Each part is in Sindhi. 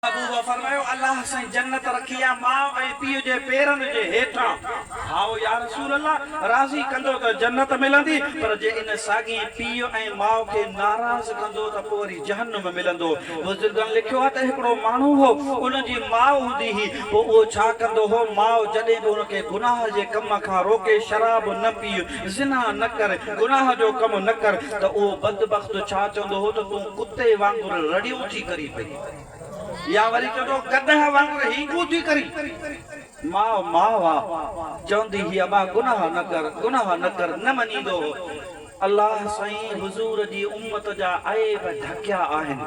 محبوبه فرمايو الله سائين جنت رکي يا ماء ۽ پيء جي پيرن جي هيٺان. هائو يا رسول الله راضي ڪندو ته جنت ملندي پر جي ان ساڳئي پيء ۽ ماء کي ناراض ڪندو ته پوء وري جهنم ملندو بزرگن لکيو آهي ته هڪڙو ماڻهو هو ان جي ماء هوندي هئي پوء اهو ڇا ڪندو هو ماء جڏهن به ان کي گناهه جي ڪم کان روڪي شراب نه پيء زنا نه ڪر گناهه جو ڪم نه ڪر ته اهو بدبخت ڇا چوندو هو ته تون ڪتي وانگر رڙيون ٿي ڪرين پئي. يا وري چوندو گڏهه وانگر هي ڪون ٿي ڪرين. ماء ماء آ چوندي هي ابا گناهه نه ڪر گناهه نه ڪر نه مڃيندو هو. الله سائين حضور جي امت جا عيب ڍڪيا آهن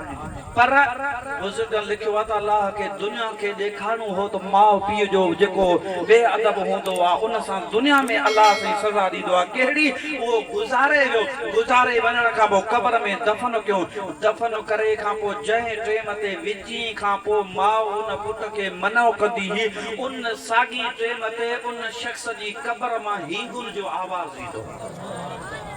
پر بزرگن لکيو آ ته الله کي دنيا کي ڏيکارڻو هو ته ماء پيء جو جيڪو بي ادب هوندو آ ان سان دنيا ۾ الله سائين سزا ڏيندو آ ڪهڙي اهو گذاري ويو گذاري وڃڻ کان پوء قبر ۾ دفن ڪيون دفن ڪري کان پوء جنهن ٽيم تي وجهي کان پوء ماء ان پٽ کي منع ڪندي هئي ان ساڳي ٽيم تي ان شخص جي قبر مان هينگن جو آواز ايندو هو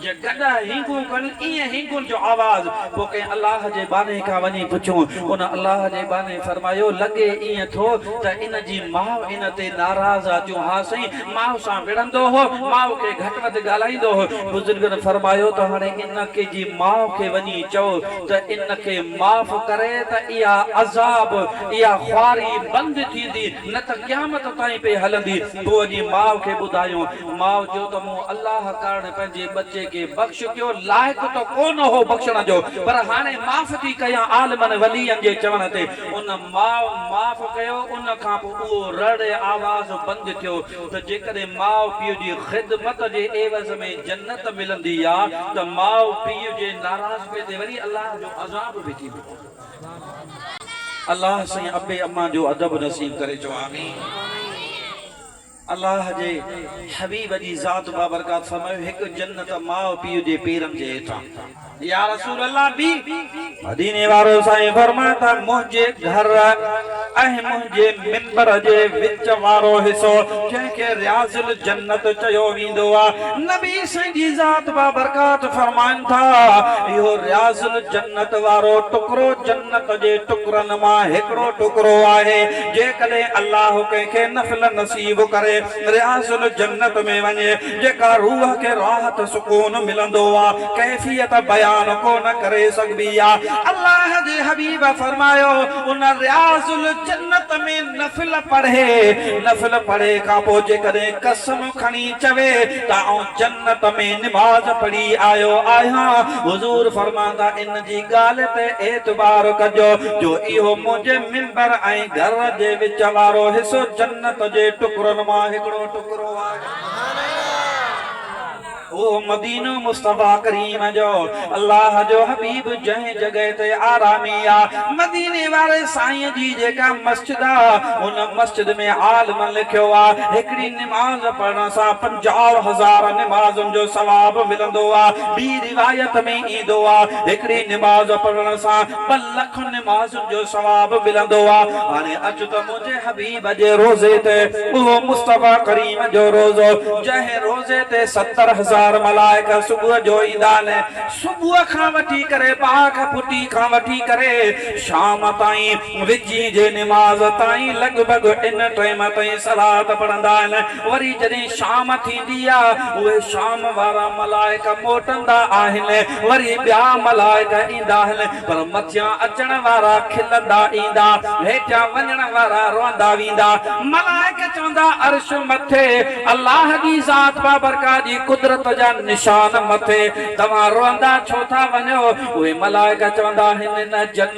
جي گڏهه هينگون ڪن ائين هينگن جو آواز پوء ڪنهن الله جي ٻانهي کان وڃي پڇيون ان الله جي ٻانهي فرمايو لڳي ائين ٿو ته ان جي ماء ان تي ناراض آ چيون ها سائين ماء سان وڙهندو هو، ماء کي گهٽ وڌ ڳالهائيندو هو. بزرگن فرمايو ته هاڻي انڪي جي ماء کي وڃي چئو ته انڪي معاف ڪري ته اها عذاب، اها خواري بند ٿيندي نه ته قيامت تائين پئي هلندي. تون وڃي ماء کي ٻڌايون. ماء چيو ته مون الله ڪارڻ پنهنجي ٻچي کي بخش ڪيو، لائق ته ڪو نه هو بخشڻ جو پر هاڻي معاف ٿي ڪيان عالمن وليين جي چوڻ تي. هن ماء معاف ڪيو ان کان پوء اهو رڙ آواز بند ٿيو ته جيڪڏهن ماء پيء جي خدمت جي عيوض ۾ جنت ملندي آ ته ماء پيء جي ناراضگي تي وري الله جو عذاب به ٿيندو آ الله سائين ابي امان جو ادب نصيب ڪري چؤ آمين. الله جي حبيب جي ذات بابرڪات فرمايو هڪ جنت ماء پيء جي پيرن جي هيٺان. يا رسول الله بي مديني وارو سائين فرمايو ته منهنجي گهر ۽ منهنجي منبر جي وچ وارو حصو جنهن کي رياض الجنت چيو ويندو آ نبي سائين جي ذات بابرڪات فرمائن ٿا اهو رياض الجنت وارو ٽڪرو جنت جنت جي ٽڪرن مان هڪڙو ٽڪرو آهي جيڪڏهن الله ڪنهن کي نفل نصيب ڪري رياض الجنت ۾ وڃي جيڪا روح کي راحت سڪون ملندو آ ڪيفيت بيان ڪونه ڪري سگهبي آ الله جي حبيب فرمايو ان رياض الجنت ۾ نفل پڙهي نفل پڙهي کانپو جيڪڏهن قسم کڻي چوي ته آئون جنت ۾ نماز پڙهي آيو آهيان حضور فرمان ٿا ان جي ڳالهه تي اعتبار ڪجو جو اهو منهنجي ممبر ۽ گهر جي وچ وارو حصو جنت جي ٽڪرن مان هڪڙو ٽڪرو آهي. اهو مدينو مصطفيٰ ڪريم جو، الله جو حبيب جنهن جڳهه تي آرامي آ، مديني واري سائين جي جيڪا مسجد آ، ان مسجد ۾ عالمن لکيو آ، هڪڙي نماز پڙهڻ سان پنجاهه هزار نمازن جو ثواب ملندو آ، ٻي روايت ۾ ٿيندو آ هڪڙي نماز پڙهڻ سان ٻه لک نمازن جو ثواب ملندو آ هاڻي اچ ته منهنجي حبيب جي روضي تي اهو مصطفيٰ ڪريم جو روضو جنهن روضي تي ستر هزار ملائڪ صبح جو ايندا آهن صبح کان وٺي ڪري پاڪ ڦٽي کان وٺي ڪري شام تائين وچين جي نماز تائين لڳ ڀڳ ان ٽيم تائين صلات پڙهندا آهن، وري جڏهن شام ٿيندي آ اهي شام وارا ملائڪ موٽندا آهن وري ٻيا ملائڪ ايندا آهن پر مٿيان اچڻ وارا کلندا ايندا هيٺيان وڃڻ وارا روئندا ويندا ملائڪ چوندا عرش مٿي الله جي ذات بابرڪات جي قدرت جا نشان مٿي توهان روئندا ڇو ٿا وڃو اهي ملائڪ چوندا هن نه جنت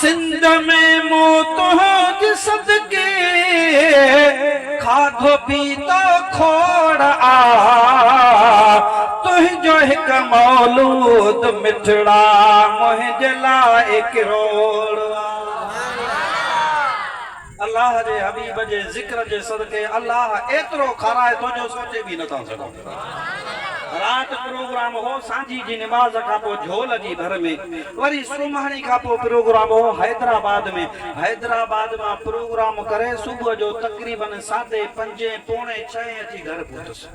سنڌ ۾ مون تنهنج صدقي کاڌو پيتو کوڙ آ تنهنجو هڪ مولود مٺڙا منهنجي لاء ڪروڙ آ. الله جي حبيب جي ذڪر جي صدقي الله ايترو کارائي ٿو جو سوچي به نٿا سگهو. رات پروگرام هو سانجهي جي نماز کان پوء جهول جي ڀر ۾ وري سومهڻي کان پوء پروگرام هو حيدرآباد ۾ حيدرآباد مان پروگرام ڪري صبح جو تقريبن ساڍي پنجين پوڻي ڇهين اچي گهر پهتس.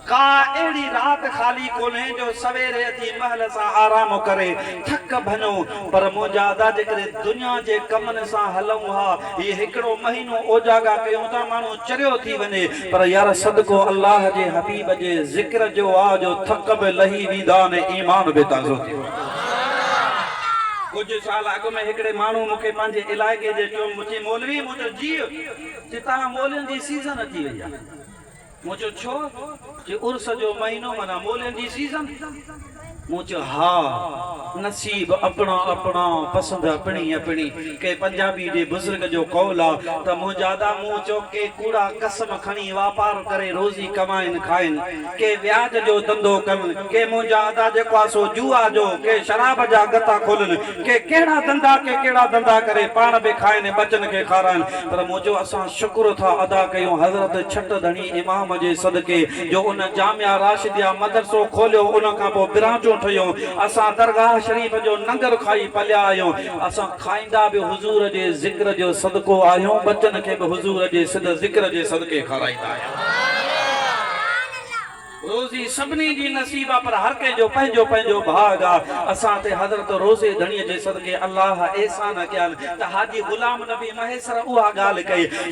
ڪا اهڙي رات خالي ڪونهي جو سويري اٿي مهل سان آرام ڪري ٿڪ ڀڃو پر منهنجا ادا جيڪڏهن دنيا جي ڪمن سان هلئون ها هي هڪڙو مهينو اوجاڳا ڪيون ٿا ماڻهو چريو ٿي وڃي پر يار صدقو الله جي حبيب جي ذڪر جو آ جو ٿڪ به لهي ويندا ۽ ايمان به تازو ٿي ويندو. ڪجهه سال اڳ ۾ هڪڙي ماڻهو مون کي پنهنجي علائقي جي چيو مولوي منهنجو جيء تتان مولين جي سيزن اچي وئي آ. مون چيو ڇو؟ چي عرس جو مهينو معنيٰ مولين جي سيزن؟ مون چيو ها نصيب اپڻا اپڻا پسند اپڻي اپڻي ڪي پنجابي جي بزرگ جو قول آ ته منهنجا ڏامو چوڪي ڪوڙا قسم کڻي واپار ڪري روزي ڪمائين کائين ڪي وياج جو ڌنڌو ڪرن، ڪي منهنجا ادا جيڪو آ سو جوئا جو، ڪي شراب جا گتا کولن، ڪي ڪهڙا ڌنڌا ڪي ڪهڙا ڌنڌا ڪري پاڻ به کائن ۽ ٻچن کي کارائن، پر منهنجو اسان شڪر ٿا ادا ڪيون حضرت ڇٽ ڌڻي امام جي صدقي جو ان جامع راشديه مدرسو کوليو ان کان پوء برانچون ٺهيون، اسان درگاهه شريف جو ننگر کائي پليا آهيون، اسان. کائيندا به حضور جي ذڪر جو صدقو آهيون ٻچن کي به حضور جي سڌ ذڪر جي صدقي کارائيندا آهيون روزي سڀني جي نصيب آ پر هر ڪنهن جو پنهنجو پنهنجو ڀاڳ آ اسان تي حضرت روزي ڌڻي جي صدقي الله احسان ڪيان ته حاجي غلام نبي مهيسر اها ڳالهه ڪئي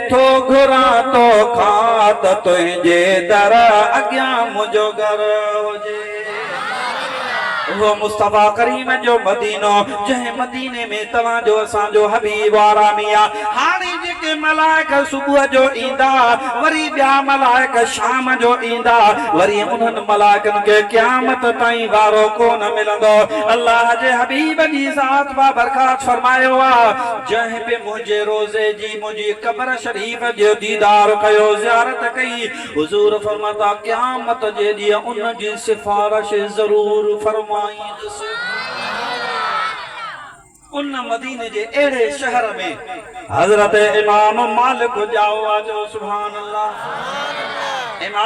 ٿو گهران توکان ته تنهنجي در اڳيان منهنجو گهر هجي. اهو مصطفيٰ ڪريم جو مدينو جنهن مديني ۾ توهان جو اسان جو حبيب آرامي آ. هاڻي جيڪي ملائڪ صبح جو ايندا وري ٻيا ملائڪ شام جو ايندا وري انهن ملائڪن کي قيامت تائين وارو ڪونه ملندو الله جي حبيب جي ذات بابرڪات فرمايو آ جنهن به منهنجي روضي جي جي قبر شريف جو ديدار ڪيو، زيارت ڪئي، حضور فرمايو ته قيامت جي ڏينهن ان جي سفارش ضرور فرمائيندس. ان مديني جي اهڙي شهر ۾. حضرت امام مالڪ ڄائو آ چئو سبحان الله. امام.